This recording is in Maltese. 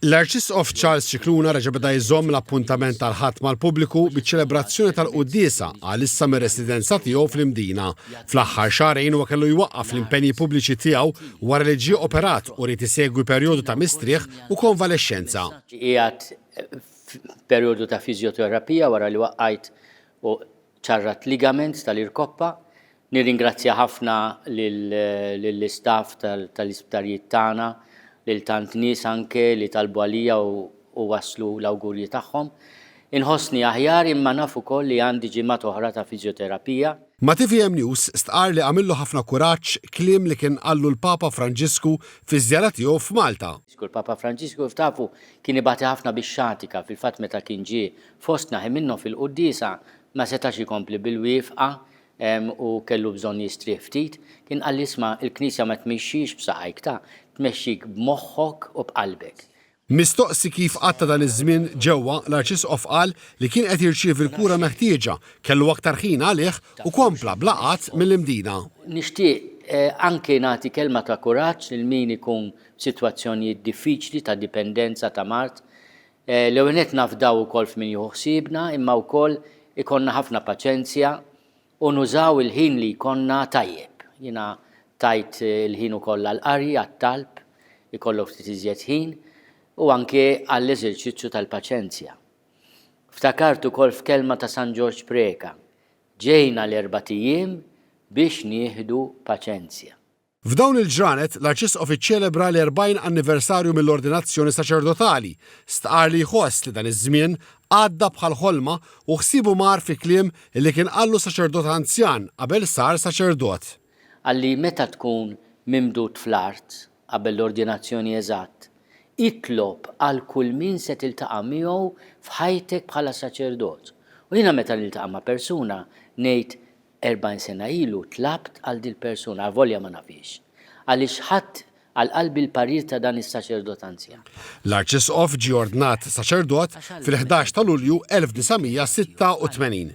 L-Arċisqof Charles Scicluna reġa' beda jżomm l-appuntament tal-Ħadd mal-pubbliku biċ-ċelebrazzjoni tal-quddiesa għalissa mir-residenza tiegħu fl-Imdina. Fl-aħħar xahrejn huwa kellu jwaqqaf l-impenji pubbliċi tiegħu wara li ġie operat u ried isegwi perjodu ta' mistrieħ u konvalexxenza. Qiegħed f'perjodu ta' fiżjoterapija wara li waqajt u ċarrat ligaments tal-irkoppa. Nirringrazzja ħafna lill-istaff tal-isptarijiet tagħna, lil tant nies anke li talbu għalija u wasslu l-awgurji tagħhom. Inħossni aħjar imma naf ukoll li għandi ġimgħat oħra ta' fiżjoterapija. Ma' tvm News stqarr li għamillu ħafna kuraġġ kliem li kien qallu l-Papa Franġisku fiż-żjara tiegħu f'Malta. Il-Papa Franġisku kif tafu kien ibati ħafna bix-xatika, fil-fatt meta kien ġie Fostna ħin minnhom fil-quddiesa ma setax ikompli bil-wiefqa u kellu bżonn jistrieħ ftit. Kien qalli isma' il-Knisja ma tmixxix b'saqajk ta, tmexxik b'moħħok u b'qalbek. Mistoqsi kif qatta' dan iż-żmien ġewwa, l-Arċisqof qal li kien qed jirċievi l-kura meħtieġa, kellu aktar ħin għalih u kompla bla qgħad mill-Imdina. Nixtieq anke nagħti kelma ta' kuraġġ lil min ikun f'sitwazzjonijiet diffiċli ta' dipendenza, ta' mard. L-ewwel nett nafdaw ukoll f'min jieħu ħsiebna imma wkoll ikollna ħafna paċenzja u nużaw il-ħin li jkollna tajjeb. Jiena tajt il-ħin ukoll għall-qari, għat-talb, ikollok ftit iżjed ħin, u anke għall-eżerċizzju tal-paċenzja. Ftakart ukoll f'kelma ta' San Ġorġ Preca, Ġejna l-erbat ijiem biex nieħdu paċenzja. F'dawn il-ġranet, l-Arċisqof iċċelebra l-40 anniversarju mill-ordinazzjoni saċerdotali, stqarr li jħoss li dan iż-żmien għadda bħal ħolma u ħsiebu mar fi kliem li kien qallu saċerdot anzjan qabel sar saċerdot. Qal li meta tkun mimdud fl-art, qabel l-ordinazzjoni eżatt, itlob għal kull min se tiltaqa' miegħu f'ħajtek bħala saċerdot. U jiena meta niltaqa' ma' persuna ngħid 40 sena ilu tlabt għal dil-persuna, avolja ma nafhiex, għaliex ħadt għal qalbi l-parir ta' dan is-saċerdot anzjan. L-Arċisqof ġie ordnat saċerdot fil-ħdax ta' Lulju 1986.